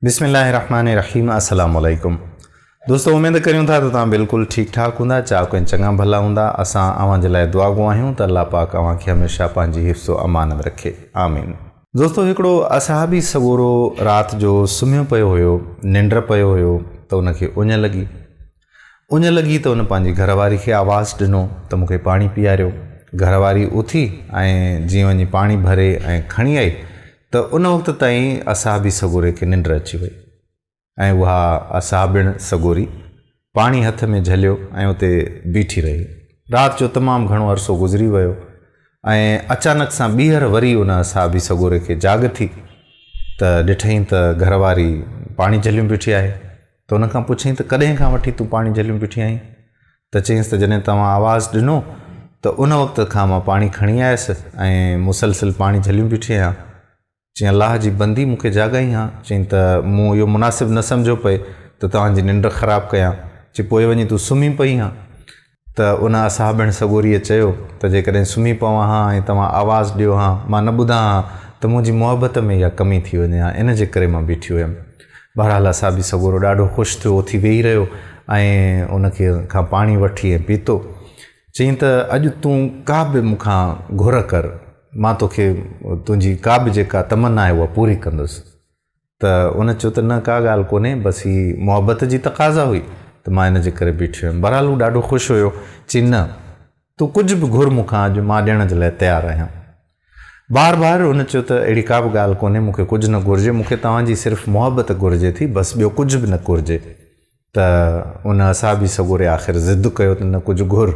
بسم الله الرحمن الرحيم السلام عليڪم دوستو اميد ڪريون ٿا ته توهان بلڪل ٺيڪ ٺاڪ هوندا چاق ۽ چڱا ڀلا هوندا اسان اوهان جي لاء دعا گو آهيون ته الله پاڪ اوهان کي هميشه پنهنجي حفظ و امان ۾ رکي آمين دوستو هڪڙو اصحابي سڳورو رات جو سمهيو پيو هيو ننڊ پيو هيو ته ان کي اڃ لڳي اڃ لڳي ته ان پنهنجي گهر واري کي آواز ڏنو ته مون کي پاڻي پياريو. گهر واري اٿي ۽ جيئن وڃي پاڻي ڀري ۽ کڻي آئي ته ان وقت تائين اصحابي سڳوري کي ننڊ اچي وئي ۽ اها اصحابڻ سڳوري پاڻي هٿ ۾ جهليو ۽ اتي بيٺي رهي. رات جو تمام گهڻو عرصو گذري ويو ۽ اچانڪ سان ٻيهر وري ان اصحابي سڳوري کي جاڳ ٿي ته ڏٺئين ته گهر واري پاڻي جهليون بيٺي آهي. ته هن کان پڇيائين ته ڪڏهن کان وٺي تون پاڻي جهليون بيٺي آهين؟ ته چيائينس ته جڏهن توهان آواز ڏنو ته ان وقت کان مان پاڻي کڻي آيس ۽ مسلسل پاڻي جهليون بيٺي آهيان. چيائين الله جي بندي مون کي جاڳائين ها. چيائين ته مون اهو مناسب نه سمجهيو پئي ته توهان جي ننڊ خراب ڪيان. چيائين پوء وڃي تون سمهي پئي هان. ته ان اصحابڻ سڳوريء چيو ته جيڪڏهن سمهي پوان ها ۽ توهان آواز ڏيو ها، مان نه ٻڌان ها ته منهنجي محبت ۾ اها ڪمي ٿي وڃي ها، ان جي ڪري مان بيٺي هيم. بهرحال اصحابي سڳورو ڏاڍو خوش ٿيو، اٿي ويهي رهيو ۽ ان کان پاڻي وٺي ۽ پيتو. چيائين ته اڄ تون ڪا به مون کان گهر ڪر، مان توکي تنهنجي ڪا به جيڪا تمنا آهي اها پوري ڪندس. ته ان چيو ته نه ڪا ڳالهه ڪونهي بس هي محبت جي تقاضا هئي ته مان ان جي ڪري بيٺي هيم بهرحال هو ڏاڍو خوش هيو چي نه تون ڪجهه به گهر مون کان اڄ مان ڏيڻ جي لاء تيار آهيان بار بار ان چيو ته اهڙي ڪا به ڳالهه ڪونهي مون کي ڪجهه نه گهرجي مون کي توهان جي صرف محبت گهرجي ٿي بس ٻيو ڪجهه به نه گهرجي. ته ان اصحابي سڳوري آخر ضد ڪيو ته نه ڪجهه گهر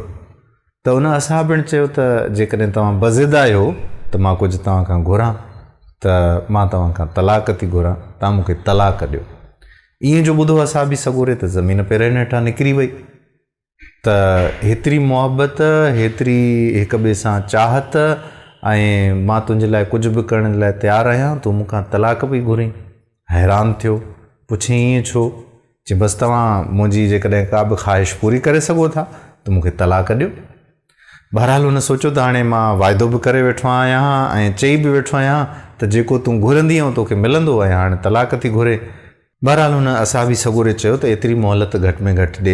ته ان اصحابڻ چيو ته جيڪڏهن توهان بضد آهيو ته مان ڪجهه توهان کان گهران ته مان توهان کان طلاق ٿي گهران توهان مون کي طلاق ڏيو ائين جو ٻڌو اصحابي سڳوري ته زمين پيرن هيٺان نڪري وئي. ته هيتري محبت، هيتري هڪ ٻئي سان چاهت ۽ مان تنهنجي لاء ڪجهه به ڪرڻ لاء تيار آهيان، تون مون کان طلاق پئي گهرين؟ حيران ٿيو، پڇيائين ائين ڇو؟ چيائين بس توهان منهنجي جيڪڏهن ڪا به خواهش پوري ڪري سگهو ٿا ته مون کي طلاق ڏيو. بهرحال هن سوچيو ته هاڻي مان واعدو به ڪري ويٺو آهيان ها ۽ چئي به ويٺو آهيان ته جيڪو تون گهرندينء اهو توکي ملندو ۽ هاڻي طلاق ٿي گهرين بهرحال هن اعصابي سڳوري چيو ته ايتري مهلت گهٽ ۾ گهٽ ڏي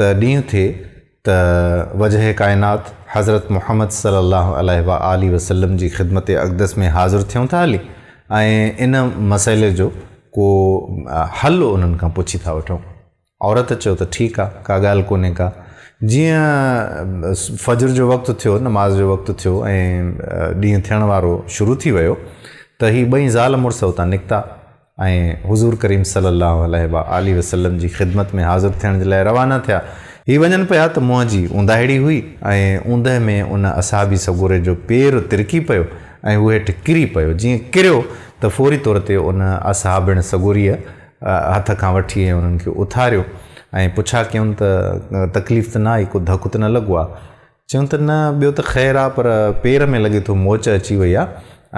ته ڏينهن ٿئي ته وجهه ڪائنات حضرت محمد صلي الله عليه وآله وسلم جي خدمت اقدس ۾ حاضر ٿيون ٿا هلي ۽ ان مسئلي جو ڪو حل انهن کان پڇي ٿا وٺون. عورت چيو ته ٺيڪ آ، ڪا ڳالهه ڪونهي ڪا. جيئن فجر جو وقت ٿيو، نماز جو وقت ٿيو ۽ ڏينهن ٿيڻ وارو شروع ٿي ويو ته هي ٻئي زال مڙس اتان نڪتا ۽ حضور ڪريم صلي الله عليه وآله وسلم جي خدمت ۾ حاضر ٿيڻ جي لاء روانا ٿيا. هي وڃن پيا ته منهن جي اونداهيڙي هئي ۽ اوندهه ۾ ان اصحابي سڳوري جو پير ترڪي پيو ۽ هو هيٺ ڪري پيو. جيئن ڪريو ته فوري طور تي ان اصحابڻ سڳوريء هٿ کان وٺي ۽ انهن کي اٿاريو ۽ پڇا ڪيون ته تڪليف ته نه آئي، ڪو ڌڪ ته نه لڳو آ؟ چيون ته نه ٻيو ته خير آ پر پير ۾ لڳي ٿو موچ اچي وئي آ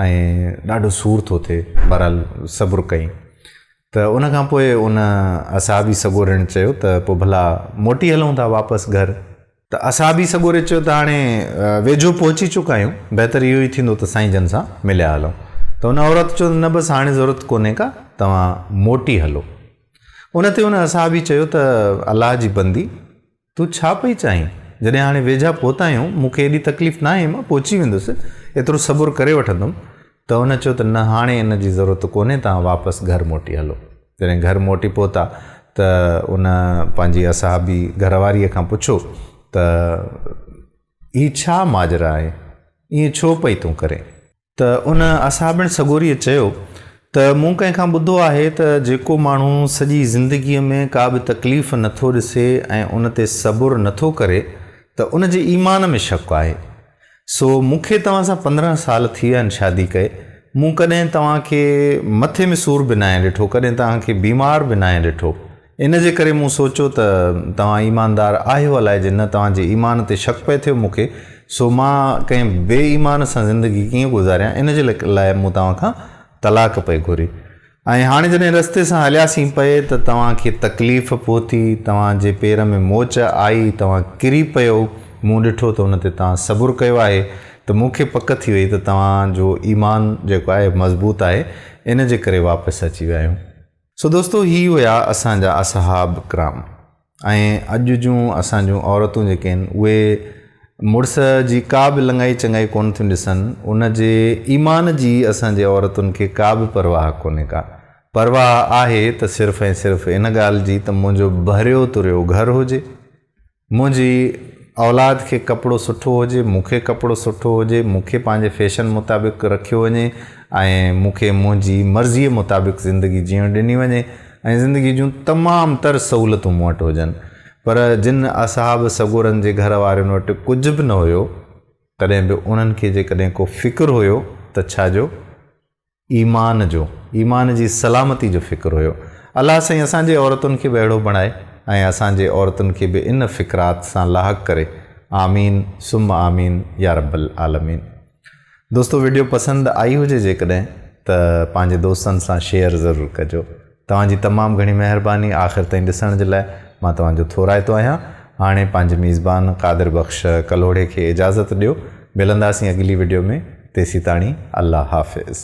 ۽ ڏاڍو سور ٿو ٿئي، بهرحال صبر ڪئين ته ان کان پوء ان اصحابي سڳورن چيو ته پوء ڀلا موٽي هلون ٿا واپس گهر. ته اسان به سڳوري چيو ته هاڻي ويجهو پهچي چڪا آهيون، بهتر اهو ئي ٿيندو ته سائين جن سان مليا هلون. ته ان عورت چيو ته نه بس هاڻي ضرورت ڪونهي ڪا، توهان موٽي هلو. ان تي ان اصحابي چيو ته الله جي بندي! تون ڇا پئي چاهين؟ جڏهن هاڻي ويجها پهتا آهيون، مون کي ايڏي تڪليف ناهي، مان پهچي ويندس، ايترو صبر ڪري وٺندم، ته هن چيو ته نه هاڻي ان جي ضرورت ڪونهي توهان واپس گهر موٽي هلو. جڏهن گهر موٽي پهتا ته ان پنهنجي اصحابي گهر واريء کان پڇيو ته هي ڇا ماجرا آهي ائين ڇو پئي تون ڪرين؟ ته ان اصحابڻ سڳوريء چيو ته مون ڪنهن کان ٻڌو آهي ته جيڪو ماڻهو سڄي زندگيء ۾ ڪا به تڪليف نه ٿو ڏسي ۽ ان تي صبر نه ٿو ڪري ته ان جي ايمان ۾ شڪ آهي. سو مون کي توهان سان پندرهن سال ٿي ويا آهن شادي ڪئي. مون ڪڏهن توهان کي مٿي ۾ سور به ناهي ڏٺو، ڪڏهن توهان کي بيمار به ناهي ڏٺو. ان جي ڪري مون سوچيو ته توهان ايماندار آهيو الائي جي نه توهان جي ايمان تي شڪ پئي ٿيو مون کي، سو مان ڪنهن بي ايمان سان زندگي ڪيئن گذاريان ان جي لاء مون توهان کان طلاق پئي گهري. ۽ هاڻي جڏهن رستي سان هلياسين پئي ته توهان کي تڪليف پهتي، توهان جي پير ۾ موچ آئي، توهان ڪري پيو، مون ڏٺو ته ان تي توهان صبر ڪيو آهي ته مون کي پڪ ٿي وئي ته توهان جو ايمان جيڪو آهي مضبوط آهي، ان جي ڪري واپس اچي ويا آهيون. سو دوستو هي هيا اسان جا اصحاب ڪرام. ۽ اڄ جون اسان جون عورتون جيڪي آهن اهي مڙس جي ڪا به لڱائي چڱائي ڪونه ٿيون ڏسن ان جي ايمان جي اسان جي عورتن کي ڪا به پرواهه ڪونهي ڪا پرواهه آهي ته صرف ۽ صرف ان ڳالهه جي ته منهنجو ڀريو تريو گهر هجي منهنجي اولاد کي ڪپڙو سٺو هجي مون کي ڪپڙو سٺو هجي مون کي پنهنجي فيشن مطابق رکيو وڃي ۽ مون کي منهنجي مرضي مطابق زندگي جيئڻ ڏني وڃي ۽ زندگيء جون تمام تر سهولتون مون وٽ هجن، پر جن اصحاب سڳورن جي گهر وارين وٽ ڪجهه به نه هيو، تڏهن به انهن کي جيڪڏهن ڪو فڪر هيو ته ڇا جو؟ ايمان جو، ايمان جي سلامتي جو فڪر هيو. الله سائين اسان جي عورتن کي به اهڙو بڻائي ۽ اسان جي عورتن کي به ان فڪرات سان لاحق ڪري. آمين ثم آمين يارب العالمين. دوستو ويڊيو پسند آئي هجي جيڪڏهن ته پنهنجي دوستن سان شيئر ضرور ڪجو توهان جي تمام گهڻي مهرباني آخر تائين ڏسڻ جي لاء مان توهان جو ٿورائتو آهيان هاڻي پنهنجي ميزبان قادر بخش ڪلهوڙي کي اجازت ڏيو ملنداسين اڳلي ويڊيو ۾ تيسيتاڻي الله حافظ.